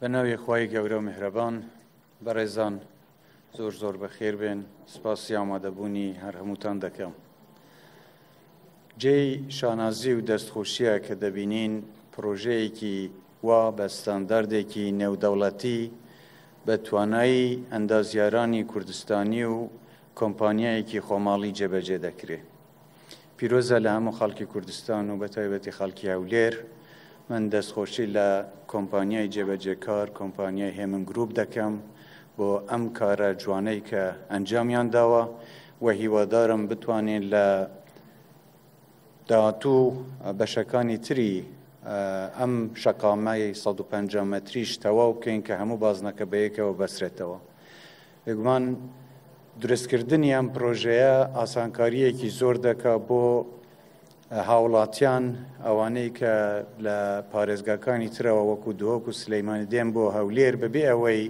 بە ناوی خی گەورە و میهرەبان بەڕێزان زۆر زۆر بەخێر بێن سپاسی ئامادەبوونی هەر هەمووتان دەکەم. جێی شانازی و دەستخۆشیە کە دەبینین پرۆژەیەکی و بە ستانداردێکی نێودەوڵەتی بە توانایی ئەندازیارانی کوردستانی و کۆمپانیایەکی خۆماڵی جێبەجێ دەکرێ. پیرۆزە لە هەموو خەڵکی کوردستان و بەتایبەتی خەڵکی هەولێر، من دەستخۆشی لە کۆمپانیای جێبەجێکار کۆمپانیای هێمن گرووپ دەکەم بۆ ئەم کارە جوانەی کە ئەنجامیان داوە و هیوادارم بتوانین لە داهاتوو و بەشەکانی تری ئەم شەقامەی سەد و پەنجا مەتریش تەواو بکەین کە هەموو بازنەکە بەیەکەوە بەسرێتەوە بێگومان دروستکردنی ئەم پرۆژەیە ئاسانکارییەکی زۆر دەکا بۆ هاوڵاتیان ئەوانەی کە لە پارێزگاکانی ترەوە وەکو دۆک و سلەیمانی دێن بۆ هەولێر بەبێ ئەوەی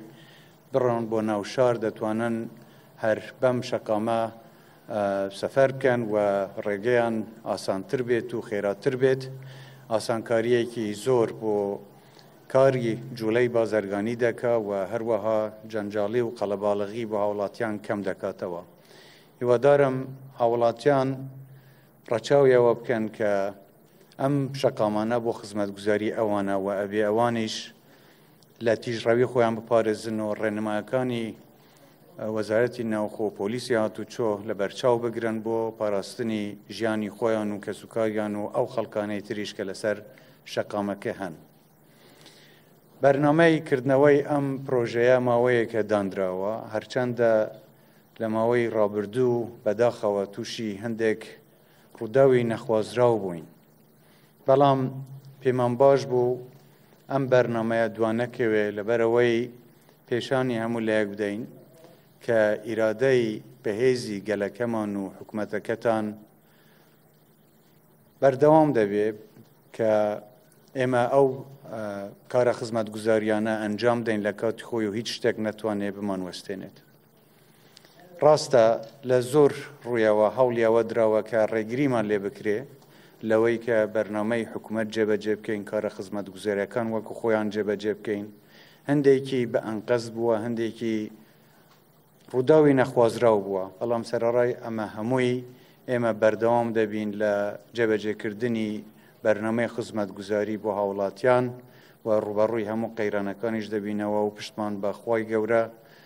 بڕۆن بۆ ناو شار دەتوانن هەر بەم شەقامە سەفەر بکەن و ڕێگەیان ئاسانتر بێت و خێراتر بێت ئاسانکاریەکی زۆر بۆ کاری جوولەی بازرگانی دەکا و هەروەها جەنجاڵی و قەلەباڵغی بۆ هاوڵاتیان کەم دەکاتەوە هیوادارم هاوڵاتیان ڕەچاویەوە بکەن کە ئەم شەقامانە بۆ خزمەتگوزاری ئەوانە و ئەبێ ئەوانیش لە تیژڕەوی خۆیان بپارێزن و ڕێنمایەکانی وەزارەتی ناوخۆ و پۆلیسی هاتوچۆ لە بەرچاو بگرن بۆ پاراستنی ژیانی خۆیان و کەسوکاریان و ئەو خەڵکانەی تریش کە لەسەر شەقامەکە هەن. بەرنمەی کردنەوەی ئەم پرۆژەیە ماوەیەکە دانراوە هەرچەندە لە ماوەی ڕابردوو بەداخەوە تووشی هەندێک ڕووداوی نەخوازراو بووین بەڵام پێمان باش بوو ئەم بەرنمەیە دوانەکەوێ لەبەرەوەی پێشانی هەموو لایەک بدەین کە ئیرادەی بەهێزی گەلەکەمان و حکوومەتەکەتان بەردەوام دەبێ کە ئێمە ئەو کارە خزمەت گوزاریانە ئەنجام دەین لە کاتی خۆی و هیچ شتێک نەتوانێ بمان وەستێنێت. ڕاستە لە زۆر ڕوویەوە هەوڵی ئەوە دراوە کە ڕێگریمان لێ بکرێ لەوەی کە بەرنمەی حکوومەت جێبەجێ بکەین کارە خزمەت گوزێرەکان وەکو خۆیان جێبەجێ بکەین هەندێکی بە ئەنقەز بووە هەندێکی ڕووداوی نەخوازراو بووە بەڵام سەرڕای ئەمە هەمووی ئێمە بەردەوام دەبین لە جێبەجێکردنی بەرنمەی خزمەت گوزاری بۆ هاوڵاتیان و ڕوبەڕووی هەموو قەیرانەکانیش دەبینەوە و پشتمان بەخوای گەورە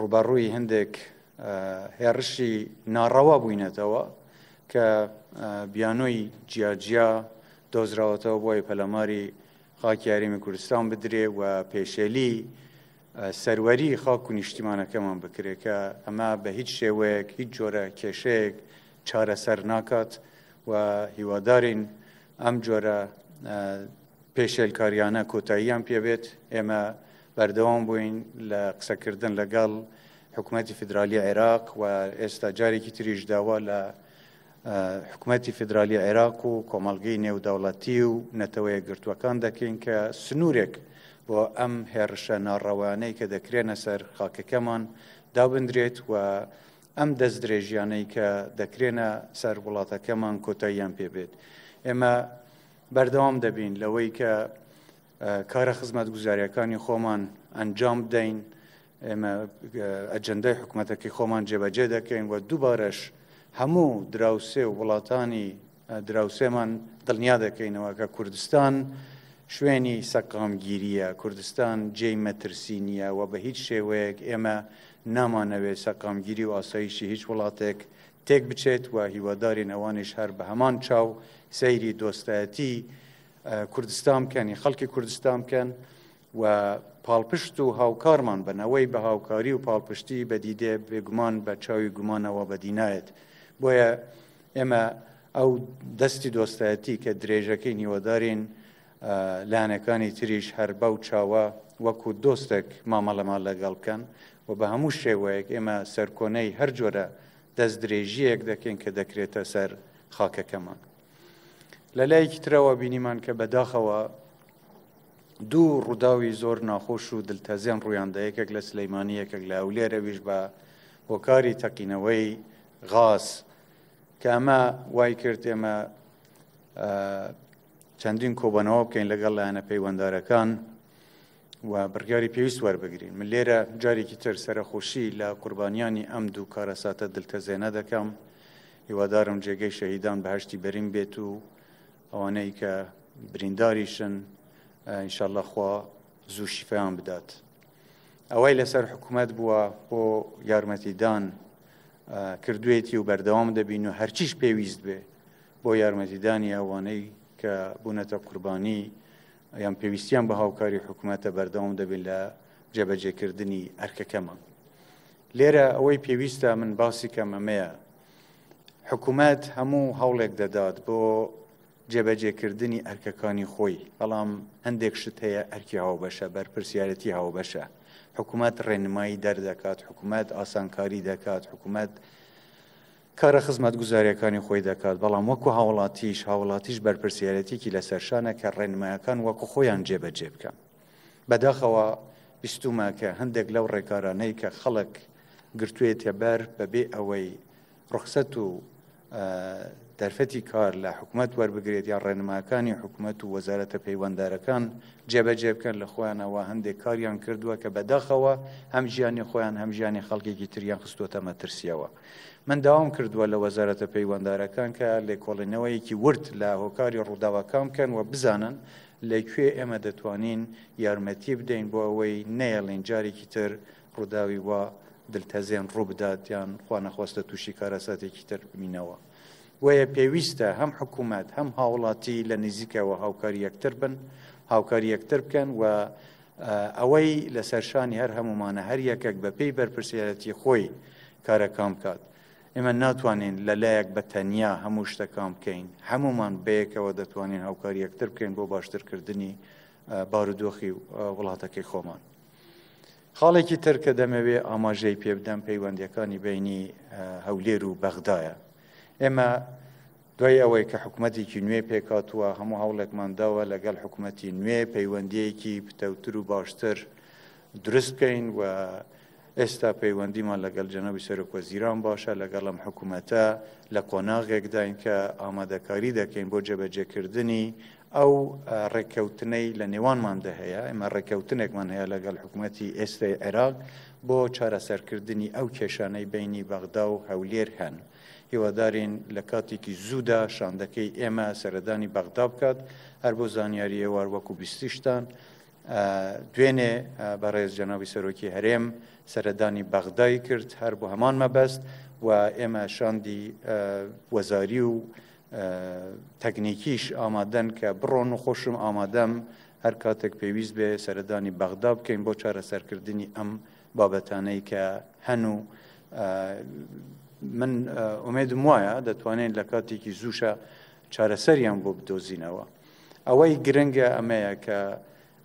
ڕووبەڕووی هەندێک هێڕشی ناڕەوا بووینەتەوە کە بیانۆی جیاجیا دۆزراوەتەوە بۆی پەلەماری خاکی یاریمی کوردستان بدرێ و پێشێلی سەروەری خاک و نیشتیمانەکەمان بکرێت کە ئەمە بە هیچ شێوەیەک هیچ جۆرە کێشەیەک چارەسەر ناکات و هیوادارین ئەم جۆرە پێشێلکاریانە کۆتاییان پێبێت ئێمە بەردەوام بووین لە قسەکردن لەگەڵ حکوومەتتی فیدراالی عێراق و ئێستا جارێکی تریش داوا لە حکوومەتتی فیدراالی عێراق و کۆمەلگەی نێودەوڵەتی و نەتەوەیە گرتووەکان دەکەین کە سنوورێک بۆ ئەم هێڕشە ناڕەوانەی کە دەکرێنە سەر خاکەکەمان دابدرێت و ئەم دەستدرێژیانەی کە دەکرێنە سەر وڵاتەکەمان کۆتاییان پێبێت ئێمە بەردەوام دەبین لەوەی کە کارە خزمەت گوزاریەکانی خۆمان ئەنجام بدەین ئێمە ئەجندای حکوومەتەکەی خۆمان جێبەجێ دەکەین و دووبارەش هەموو دراوسێ و وڵاتانی دراوسێمان دڵنیا دەکەینەوە کە کوردستان شوێنی سەقامگیریە کوردستان جێی مەترسی نییە و بە هیچ شێوەیەک ئێمە نامانەوێت سەقامگیری و ئاسایشی هیچ وڵاتێک تێک بچێت و هیوادارین ئەوانش هەر بە هەمان چاو سەیری دۆستایەتی کوردستان بکەنی خەڵکی کوردستان بکەن و پاڵپشت و هاوکارمان بن ئەوەی بە هاوکاری و پاڵپشتی بەدیدێ بێگومان بە چاوی گومانەوە بەدینایەت بۆیە ئێمە ئەو دەستی دۆستایەتی کە درێژەکەی نیوەدارین لایەنەکانی تریش هەر بەو چاوە وەکو دۆستێک مامەڵەمان لەگەڵ بکەن و بە هەموو شێوەیەک ئێمە سەرکۆنەی هەر جۆرە دەست درێژیەک دەکەین کە دەکرێتە سەر خاکەکەمان. لە لایەکی ترەوە بینیمان کە بەداخەوە دوو ڕووداوی زۆر ناخۆش و دلتەزێن ڕوویاندا یەکێک لە سلەیمانی یەکێک لە ئەولێر ئەویش بە هۆکاری تەقینەوەی غاز کە ئەمە وای کرد ئێمە چەندین کۆبەنەوە بکەین لەگەڵ لایەنە پەیوەندارەکان و بڕیاری پێویست وەربگرین من لێرە جارێکی تر سەرخۆشی لە قوربانیانی ئەم دوو کارەساتە دلتەزێنە دەکەم هیوادارم جێگەی شەهیدان بەهشتی بەرین بێت و ئەوانەی کە برینداریشن ئینشاءاللە خوا زوو شیفایان بدات ئەوەی لەسەر حکوومەت بووە بۆ یارمەتیدان کردوێتی و بەردەوام دەبین و هەرچیش پێویست بێ بۆ یارمەتیدانی ئەوانەی کە بوونەتە قوربانی یان پێویستیان بە هاوکاری حکوومەتە بەردەوام دەبین لە جێبەجێکردنی ئەرکەکەمان لێرە ئەوەی پێویستە من باسی کەم ئەمەیە حکومەت هەموو هەوڵێک دەدات بۆ جێبەجێکردنی ئەرکەکانی خۆی بەڵام هەندێک شت هەیە ئەرکی هاوبەشە بەرپرسیارەتی هاوبەشە حکوومەت ڕێنمایی دەردەکات حکوومەت ئاسانکاری دەکات حکوومەت کارە خزمەت گوزارەکانی خۆی دەکات بەڵام وەکو هاوڵاتیش هاوڵاتیش بەرپرسیارەتێکی لەسەرشانە کە ڕێنمایەکان وەکو خۆیان جێبەجێ بکەن بەداخەوە بیستوومە کە هەندێک لەو ڕێکارانەی کە خەڵک گرتوێتە بەر بەبێ ئەوەی ڕخسەت و دەرفەتی کار لە حکوومەت وەربگرێت یا ڕێنماکانی حکوومەت و وەزارەتە پەیوەندارەکان جێبەجێ بکەن لە خۆیانەوە هەندێک کاریان کردووە کە بەداخەوە هەم ژیانی خۆیان هەم ژیانی خەڵکێکی تریان خستوتە مەترسیەوە من داوام کردووە لە وەزارەتە پەیوەندارەکان کە لێکۆڵینەوەیەکی ورد لە هۆکاری ڕووداوەکان بکەن و بزانن لە کوێ ئێمە دەتوانین یارمەتی بدەین بۆ ئەوەی نەیەڵین جارێکی تر ڕووداوی وا دلتەزێن ڕووبدات یان خوانەخواستە تووشی کارەساتێکی تر ببینەوە. بۆیە پێویستە هەم حکوومەت هەم هاوڵاتی لە نزیکەوە هاوکاری یەکتر بن هاوکاری یەکتر بکەن و ئەوەی لەسەر شانی هەر هەمومانە هەر یەکەک بەپێی بەرپرسیارەتی خۆی کارەکان بکات. ئێمە ناتوانین لە لایەک بە تەنیا هەموو شتەکان بکەین هەمومان بەیەکەوە دەتوانین هاوکاری یەکتر بکەین بۆ باشترکردنی بارودۆخی وڵاتەکەی خۆمان. خاڵێکی تر کە دەمەوێ ئاماژەی پێ بدەم پەیوەندەکانی بینی هەولێر و بەغدایە. ئێمە دوای ئەوەی کە حکوومەتێکی نوێ پێکاتووە هەموو هەوڵێکمان داوە لەگەڵ حکوومەتی نوێ پەیوەندیەکی پتەوتر و باشتر دروست بکەین و ئێستا پەیوەندیمان لەگەڵ جەنابی سەرۆکوەزیران باشە لەگەڵ ئەم حکوومەتە لە قۆناغێکداین کە ئامادەکاری دەکەین بۆ جێبەجێکردنی ئەو ڕێککەوتنەی لە نێوانماندا هەیە ئێمە ڕێککەوتنێکمان هەیە لەگەڵ حکوومەتتی ئێستای عێراق بۆ چارەسەرکردنی ئەو کێشانەی بینی بەغدا و هەولێر هەن. هیوادارین لە کاتێکی زوودا شاندەکەی ئێمە سەردانی بەغدا بکات هەر بۆ زانیاریەوار وەکو بیستیشتان دوێنێ بەڕێز جەناوی سەرۆکی هەرێم سەردانی بەغدای کرد هەر بۆ هەمان مەبەست و ئێمە شاندی وەزاری و تەکنیکیش ئامادەن کە بڕۆن و خۆشم ئامادەم هەر کاتێک پێویست بێ سەردانی بەغدا بکەین بۆ چارەسەرکردنی ئەم بابەتانەی کە هەن و من ئومێدم وایە دەتوانێت لە کاتێکی زووشە چارەسەریان بۆ بدۆزینەوە ئەوەی گرنگە ئەمەیە کە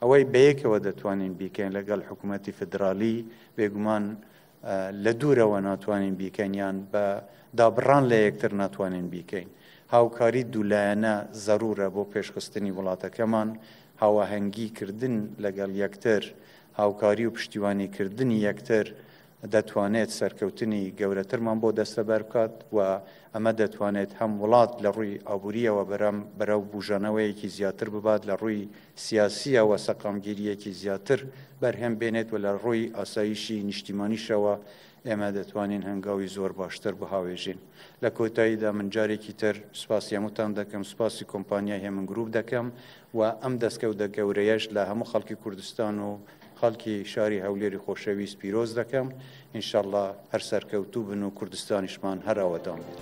ئەوەی بەیەکەوە دەتوانین بیکەین لەگەڵ حکوومەتتی فدرالی بێگومان لە دوورەوە ناتوانین بیکەنیان بە دابڕان لە یەکتر ناتوانین بیکەین هاوکاری دوولایەنە زەرورە بۆ پێشخستنی وڵاتەکەمان هاواهەنگی کردن لەگەڵ یەکتر هاوکاری و پشتیوانی کردنی یەکتر دەتوانێت سەرکەوتنی گەورەترمان بۆ دەستەبەر بکات و ئەمە دەتوانێت هەم وڵات لە ڕووی ئابووریەوە بەرەم بەرەو بوژانەوەیەکی زیاتر ببات لە ڕووی سیاسیەوە سەقامگیریەکی زیاتر بەرهەم بێنێت و لە ڕووی ئاسایشی نیشتیمانیشەوە ئێمە دەتوانین هەنگاوی زۆر باشتر بهاوێژین لە کۆتاییدا من جارێکی تر سپاسی هەمووتان دەکەم سپاسی کۆمپانیای هێمن گروپ دەکەم و ئەم دەستکەوتە گەورەیەش لە هەموو خەڵکی کوردستان و خەڵکی شاری هەولێری خۆشەویست پیرۆز دەکەم ان شاء اللە هەر سەرکەوتوو بن و کوردستانیشمان هەر ئاوەدان بێت.